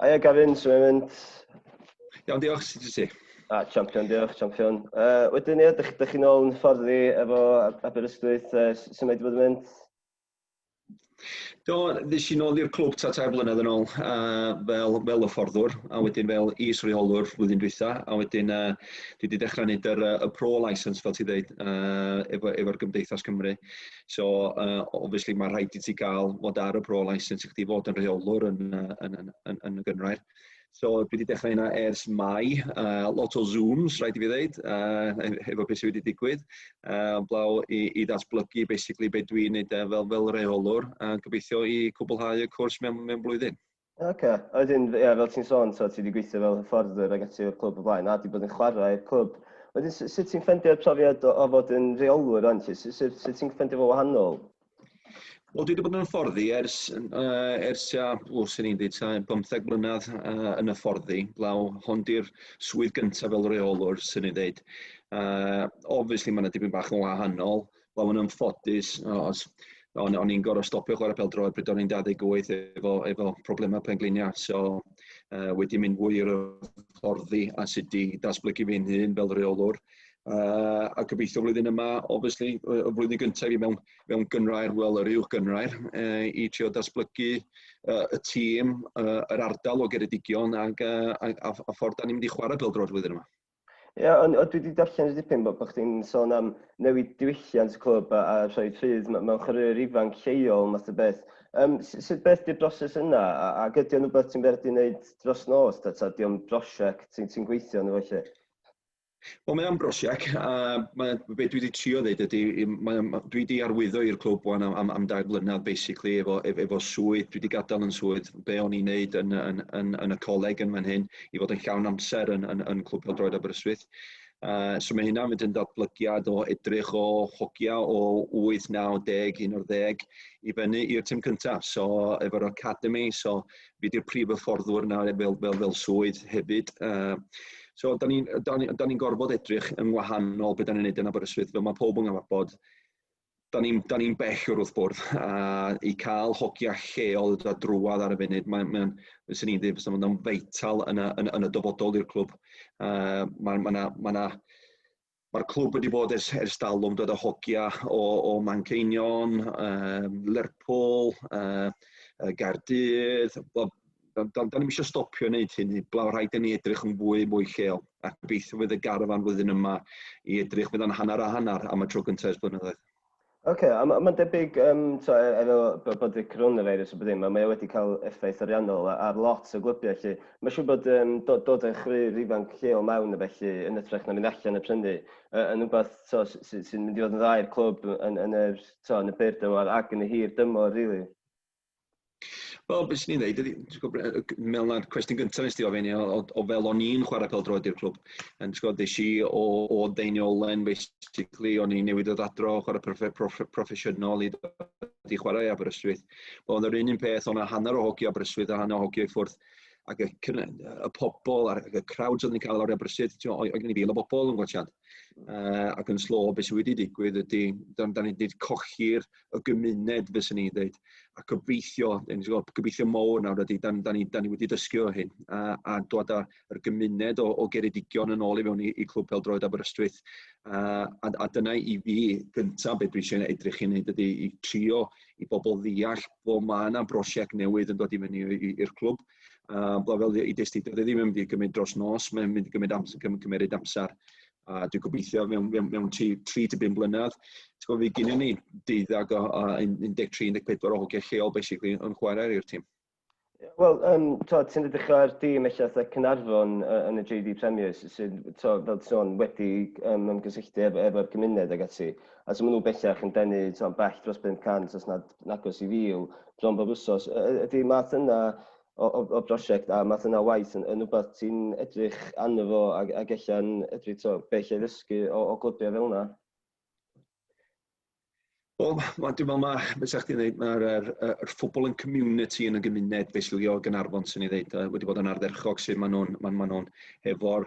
Aia Gavin, sy'n mynd mynd? Iawn, diolch, sut ti? A, champion, diolch, champion. Uh, wedyn, ie, dych, dych chi'n ôl yn ffordd i efo Aberystwyth, uh, sy'n mynd i fod yn mynd? Do, ddys i'n ôl i'r clwb ta tair blynedd yn ôl uh, fel, fel y fforddwr, a wedyn fel is reolwr flwyddyn dwytha, a wedyn uh, dwi wedi dechrau gwneud yr, uh, y pro license, fel ti dweud, uh, efo'r efo gymdeithas Cymru. So, uh, obviously, mae rhaid i ti gael fod ar y pro license i chdi fod yn rheolwr yn, uh, yn, yn, yn, yn y gynrair. So, dwi wedi dechrau yna ers mai, uh, lot o Zooms, rhaid i fi ddeud, uh, efo beth sydd wedi digwydd, uh, blaw i, i ddatblygu, basically, beth dwi'n neud uh, fel, fel reolwr, a uh, gobeithio i cwblhau y cwrs mewn, mewn blwyddyn. Ok, a wedyn ie fel ti'n sôn t'od ti 'di gweithio fel hyfforddwr ag ati o'r clwb o blaen a 'di bod yn chwarae i'r clwb. Wedyn su- sut ti'n ffeindio'r profiad o o fod yn reolwr rŵan ti? Su- su- sut ti'n ffeindio fo wahanol? Wel dwi 'di bod yn hyfforddi ers yy ers tua o swn i'n deud tua bymtheg mlynadd yy yn hyfforddi blaw. Hon 'di'r swydd gynta' fel reolwr swn i'n ddeud. Yy obviously ma' 'na dipyn bach yn wahanol Wel, yn ymffodus, os, o'n, o'n i'n gorfod stopio chwarae pel droed pryd o'n i'n 28 efo, efo problemau pengliniau. So, uh, wedi mynd fwy o'r fforddi a sut di datblygu fi'n hun fel reolwr. Uh, a gobeithio flwyddyn yma, obviously, y flwyddyn gyntaf i mewn, mewn gynrair, wel, yr uwch gynrair, uh, i trio datblygu uh, y tîm, uh, yr ardal o Geredigion ac, uh, a, a, a ffordd da ni'n mynd i chwarae pel droed flwyddyn yma. Ia, ond dwi wedi darllen dipyn bod chdi'n sôn am newid diwylliant y clwb a rhoi rhydd mewn chwaraewyr ifanc lleol math o beth. Yym, sut beth 'di'r broses yna ac ydy o'n rhywbeth ti'n berdu wneud dros nos ta ta 'di o'n brosiect ti'n ti'n gweithio arno fo 'lly? Wel mae o'n brosiect a mae be dwi wedi trio ddeud ydy mae o'n dwi wedi arwyddo i'r clwb wan am am am dair blynedd basically efo efo swydd dwi wedi gadael yn swydd be o'n i'n neud yn yn yn yn y coleg yn fan hyn i fod yn llawn amser yn, yn, yn Clwb Peldroed Aberystwyth. Uh, so mae hynna'n mynd yn datblygiad o edrych o hogia o 8, 9, 10, 11 i fyny i'r tîm cyntaf. So efo'r academy, so fi di'r prif hyfforddwr yna fel, fel, fel swydd hefyd. Uh, so da ni'n ni, ni gorfod edrych yn wahanol beth da ni'n neud yn Aberystwyth. Fel mae pob yn bod da ni'n da ni bell o'r wrth bwrdd a i cael hogia lleol da drwad ar y funud mae'n mae bys ni'n dweud fysa fo'n feital yn y, yn, yn y dyfodol i'r clwb. Uh, Mae'r ma ma ma ma clwb wedi bod ers, ers dalwm dod â hogia o, o Manceinion, um, Lerpwl, uh, Gardydd, Do'n do, do ni'n eisiau stopio wneud hyn heblaw, rhaid i ni edrych yn fwy mwy lleol. A gobeithio fydd y garfan flwyddyn yma i edrych fydd o'n hanner a hanner am y tro gyntaf ers blynyddoedd. Oce, okay, a mae'n ma debyg, um, to, e, efo bod y coronavirus a bod ddim, mae e wedi cael effaith ariannol ar lot o glybiau lle. Mae siw bod um, dod, dod â chryf ifanc lleol mewn y felly yn ytrach na mynd allan a prynu, uh, yn rhywbeth sy'n sy mynd i fod yn ddau'r clwb yn, yn, yr, to, yn y byr dymor ac yn y hir dymor, really. Wel, beth sy'n ei ddeud ydy, ti'n gwybod, yy g- mewn na'r cwestiwn gyntaf nes ti ofyn i o o o fel o'n i'n chwarae pêl-droed i'r clwb, yn ti'n gwybod, des i o o Deiniolen basically, o'n i'n newid dod adro o chwarae proff- proff- proffesiynol i dod i chwarae i Aberystwyth. Wel, oedd yr un un peth, o'n 'na hanner o hogi Aberystwyth a hanner o hogi i ffwrdd, ac y cyn- yy y pobol a'r y crowds oedden ni'n cael lawr i Aberystwyth, ti'n gwybod, oedd oedd gen i fil o bobol yn gwatsiad, yy ac yn slo be sy wedi digwydd ydy, dan dan ni 'di colli'r y gymuned, fyswn i'n dweud. A gobeithio, gobeithio mowr nawr ydy, da, da, ni, da ni wedi dysgu o hyn, a, a dod â'r gymuned o, o geredigion yn ôl i fewn i, i Clwb Peldroed Aberystwyth. A, a, a dyna i fi gyntaf beth dwi eisiau edrych i wneud ydy i trio i bobl ddeall bod mae yna brosiect newydd yn dod i fyny i'r clwb. A, fel i destyd, dwi ddim yn mynd i gymryd dros nos, mae'n mynd i gymryd amser, gymryd amser a dwi'n gobeithio mewn, mewn, mewn 3 to 5 blynedd, ti'n gofio, gynnu ni deuddag o, o 13-14 o hogiau lleol, basically, yn chwarae i'r tîm. Wel, um, ti'n edrych ar dîm eich eitha Cynarfon uh, yn y JD Premiers sydd, to, fel ti'n wedi um, ymgysylltu ef, efo'r gymuned ag ati. A sy'n mynd bellach yn denu to, bell dros 500 os nad nagos i fil bron bob wsos. Ydy math yna o, o, o brosiect a math yna o waith yn, yn rhywbeth ti'n edrych arno fo ac, ac ella'n edrych to, be lle ddysgu o, o glybiau fel yna? Wel, ma, dwi'n meddwl, mae, beth sa'ch ti'n dweud, mae'r er, er, ffobl yn community yn y gymuned fesulio Gynarfon sy'n ei ddeud, wedi bod yn ardderchog sydd maen nhw'n ma, ma nhw efo'r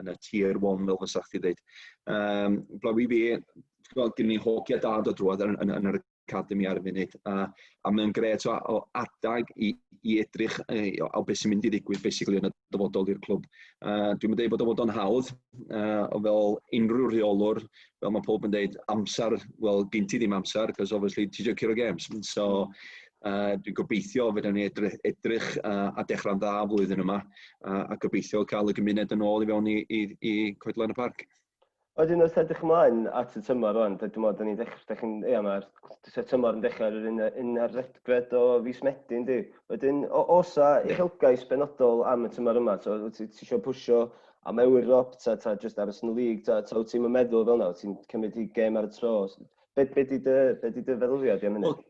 yn y tier one fel fysa chdi ddeud. Um, Blaw i fi, gweld gen i hogia dad o drwad yn, yn, yn yr academi ar y funud, a, a mae'n gret o, o adag i, i edrych ei, o, o beth sy'n mynd i ddigwydd basically yn y dyfodol i'r clwb. Uh, dwi'n mynd bod o fod o'n hawdd, uh, fel unrhyw rheolwr, fel mae pob yn dweud, amser, wel, gen ti ddim amser, cos obviously ti eisiau curo games. So, Uh, dwi'n gobeithio fydden ni edrych, edrych uh, a dechrau'n dda flwyddyn yma uh, a gobeithio cael y gymuned yn ôl i fewn i, i, i coedlan y parc. Oedden nhw'n edrych ymlaen at y tymor o'n, dydyn nhw'n dydyn ni'n dechrau, dydyn ni'n, ia, mae'r tymor yn dechrau yr un, un ar redgred o fus medyn di. Oedden, os a uchelgais benodol am y tymor yma, so, ti eisiau pwysio am Ewrop, ta, ta just aros yn y lig, ta, ta wyt ti'n meddwl fel yna, ti'n cymryd i gem ar y tro. Be, be di dy, be di dy feddwl i am hynny? Well,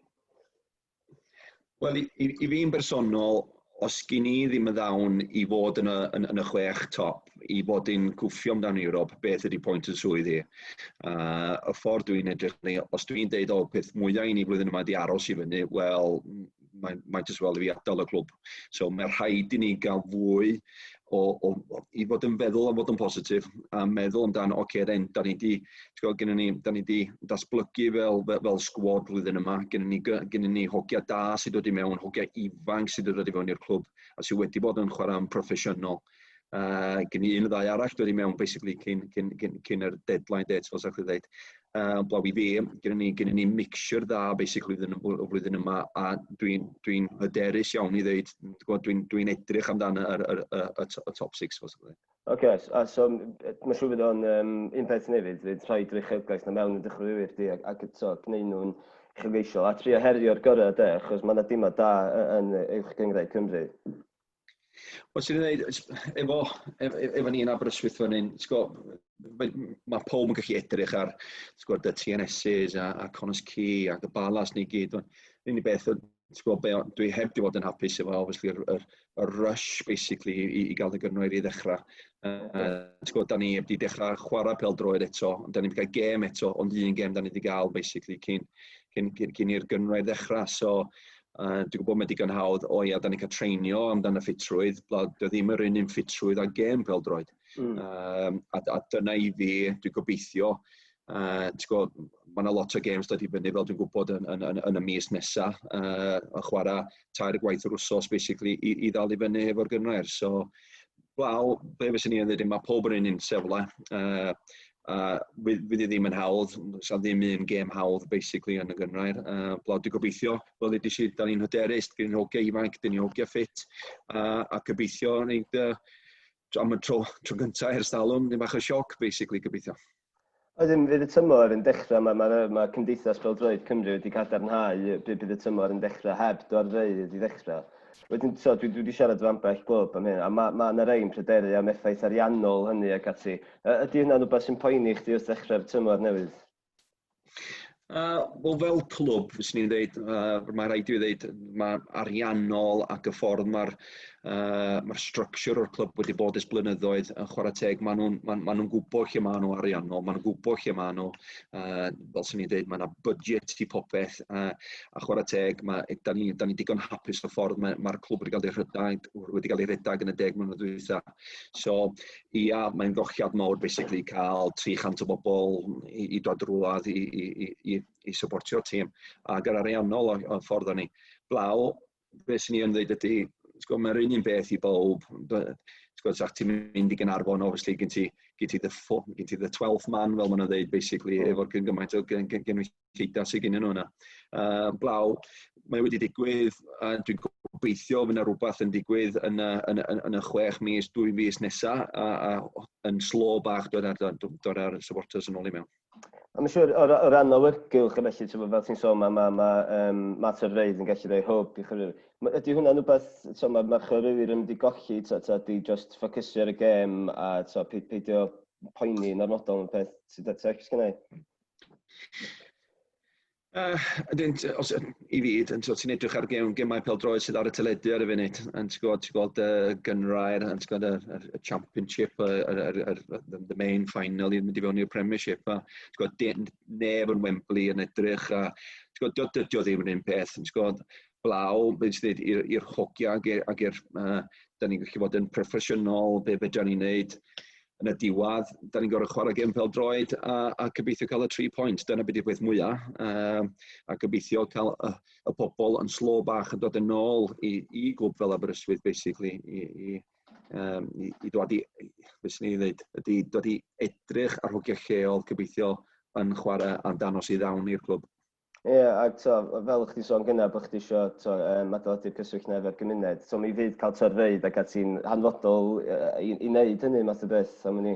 Wel, i, i, i fi'n bersonol, os gyn ni ddim yn ddawn i fod yn y, yn, yn y chwech top, i fod yn cwffio amdano Ewrop, beth ydy pwynt yn swydd i? Uh, y ffordd dwi'n edrych ni, os dwi'n deud o peth mwyaf i ni flwyddyn yma di aros i fyny, wel, mae'n mae jyst fel i fi adael y clwb. So mae rhaid i ni gael fwy o, o, o i fod yn feddwl am fod yn positif a meddwl amdano, oce, okay, then, da ni di, gwybod, gynnu ni, da ni di datblygu fel, fel, fel sgwad flwyddyn yma, gynnu ni, gynnu ni hogia da sydd wedi mewn, hogia ifanc sydd wedi dod i fewn i'r clwb a sydd wedi bod yn chwarae'n proffesiynol. Uh, gen i un ddau arall dwi wedi mewn basically cyn, cyn, cyn, cyn yr deadline date fel sa'ch chi ddeud. Uh, blaw i fi, gen ni, gen ni mixture dda basically flwyddyn, o flwyddyn yma a dwi'n dwi, hyderus iawn i ddeud, dwi'n dwi edrych amdano y, y, y, y, y top 6 fel sa'ch chi ddeud. Ok, a so, so mae'n siŵr fydd o'n um, un peth nefyd, fydd rhoi drychiogaeth na mewn yn dechreuwyr di ac, ac so, gwneud nhw'n chylgeisiol a trio herio'r gorau de, achos mae yna dimod da yn uwch gyngrau Cymru. Wel, sy'n ei wneud, efo, efo, efo ni yn Aberystwyth fan hyn, mae, mae pob yn gallu edrych ar gwybod, y TNSs a, a Connors Key ac y balas ni gyd. Yr unig beth, gwybod, be, dwi heb di fod yn hapus efo, obviously, yr, yr, yr rush, basically, i, i gael y gyrnwyr i ddechrau. Uh, gwybod, da ni heb di dechrau chwarae pel droed eto, da ni wedi cael gêm eto, ond un gêm da ni wedi cael, basically, cyn, cyn, cyn, cyn i'r gyrnwyr ddechrau. So, Uh, dwi'n gwybod mae digon hawdd, o ia, da ni'n cael treinio amdano ffitrwydd, blad, dwi ddim yr un un ffitrwydd a gem fel droed. Mm. Um, a, a dyna i fi, dwi'n gobeithio, uh, ti'n gwybod, mae yna lot o games dod i fyny fel dwi'n gwybod yn, yn, yn, yn y mis nesa, uh, a chwarae tair gwaith yr wsos, basically, i, i ddal i fyny efo'r gynrair. So, Wel, be fyswn i'n dweud, mae pob yr un un sefle. Uh, uh, fydd, fydd ddim yn hawdd, sa'n ddim un gêm hawdd, basically, yn y gynrair. Uh, Blawd, dwi'n gobeithio, fel ydy si, da ni'n hyderus, da ni'n hogia ifanc, da ni'n hogia ffit, uh, a gobeithio, nid, uh, am y tro, tro gyntaf ers dalwm, ddim bach o sioc, basically, gobeithio. Ydyn, fydd y tymor yn dechrau, mae, mae, mae Cymdeithas Bêl-droed Cymru wedi cadarnhau bydd, bydd y tymor yn dechrau heb dorfeydd i ddechrau. Wedyn, so, dwi, dwi wedi siarad efo ambell glwb am hyn, a mae, mae yna rei'n pryderu am effaith ariannol hynny ac ati. Ydy hynna'n rhywbeth sy'n poeni chdi wrth ddechrau'r tymor newydd? Uh, Wel, fel clwb, fyswn i'n dweud, uh, mae rhaid i fi ddeud, mae ariannol ac y ffordd mae'r uh, mae structure o'r clwb wedi bod ys blynyddoedd yn chwarae teg. Maen nhw'n ma, ma nhw gwybod lle maen nhw ariannol, maen nhw'n gwybod lle maen nhw. Uh, fel sy'n ni'n dweud, mae yna budget i popeth uh, a chwarae teg. Mae, da ni, da ni digon hapus y ffordd mae'r mae clwb wedi cael ei rhedeg, wedi cael ei rhedeg yn y deg mlynedd dwytha. So, ia, mae'n gochiad mawr basically cael 300 o bobl i, i dod rwlad i, i, i, i, i supportio tîm. A gyda'r ariannol o'n ffordd o'n ni. Blaw, beth sy'n ni yn dweud ydy, sgwr, mae'r un un beth i bob. Sgwr, sa'ch ti'n mynd i Gynarfon, obviously, gyn ti, gyn ti, the, gyn ti the 12th man, fel maen nhw'n dweud, basically, mm. efo'r gymaint o gynwysiad. gynulleidfa sydd gennym nhw yna. Uh, blaw, mae wedi digwydd, a dwi'n gobeithio fydd yna rhywbeth yn digwydd yn y, yn, yn, yn y chwech mis, dwy fus nesaf, a, a yn slo bach dod ar, dod ar supporters yn ôl i mewn. A mae'n siŵr, o, o ran awyrgylch, felly, ti'n bod, fel ti'n sôn, mae ma, ma, um, mater reidd yn gallu rhoi hwb i chyrwyr. Ydy hwnna'n rhywbeth, ti'n mae ma chyrwyr yn mynd i golli, ta, ta, di just ffocysio ar y gem a ti'n peidio poeni yn ormodol yn peth sydd at eich gynnau? Yy ydyn t- os yy i fi t- t'o' ti'n edrych ar gem- gemau pêl-droed sydd ar y teledu ar y funud yn ti gwbod ti gweld yy gynghrair yn ti gweld yr yr y championship yy yr yr yr the the main final i mynd i fewn i'r premiership a ti gweld dim neb yn Wembley yn edrych a ti gwod dio dydio ddim yn un peth yn ti gwod blaw be' ti ddeud i'r i'r hogia ag e- ag i'r yy 'dan ni'n gallu bod yn proffesiynol be' fedran ni neud yn y diwedd, da ni'n gorfod chwarae gêm pêl-droed a a gobeithio cael y tri pwynt. Dyna be 'di'r peth mwya, yym a gobeithio cael y y pobl yn slo bach yn dod yn ôl i i gwb fel Aberystwyth basically i i yym i i dod i i- be' swn i'n ddeud ydi dod i edrych ar hogia lleol, gobeithio yn chwarae am danos i ddawn i'r clwb. Ie, ac to, fel o'ch ti'n sôn gyna, bod chdi isio to, um, adeiladu'r cyswllt na efo'r gymuned. To, mi fydd cael torfeydd ac ati'n hanfodol uh, i, i wneud hynny math o beth am hynny.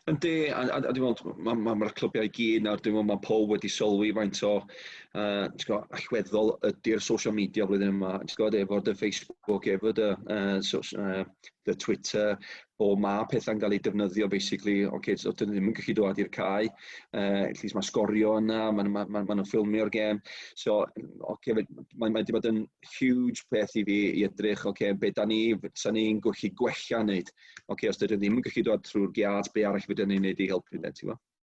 Yndi, a, a, a dwi'n meddwl, mae'r ma, ma clybiau i gyd nawr, dwi'n meddwl mae pob wedi sylwi faint o uh, go, allweddol ydy'r social media flwyddyn yma, efo'r dy Facebook, efo dy uh, so, uh, dy Twitter, o mae pethau'n cael eu defnyddio basically, oce, okay, so dyn ddim yn gallu dod i'r cae, uh, at least mae sgorio yna, mae'n ma, ma, ma, ma ffilmio'r gem, so okay, mae wedi bod yn huge peth i fi i edrych, oce, okay, be da ni, sa ni'n gallu gwella wneud, oce, okay, os dydyn ddim yn gallu dod trwy'r giat, be arall fydden ni'n wneud i helpu, ti'n gwybod?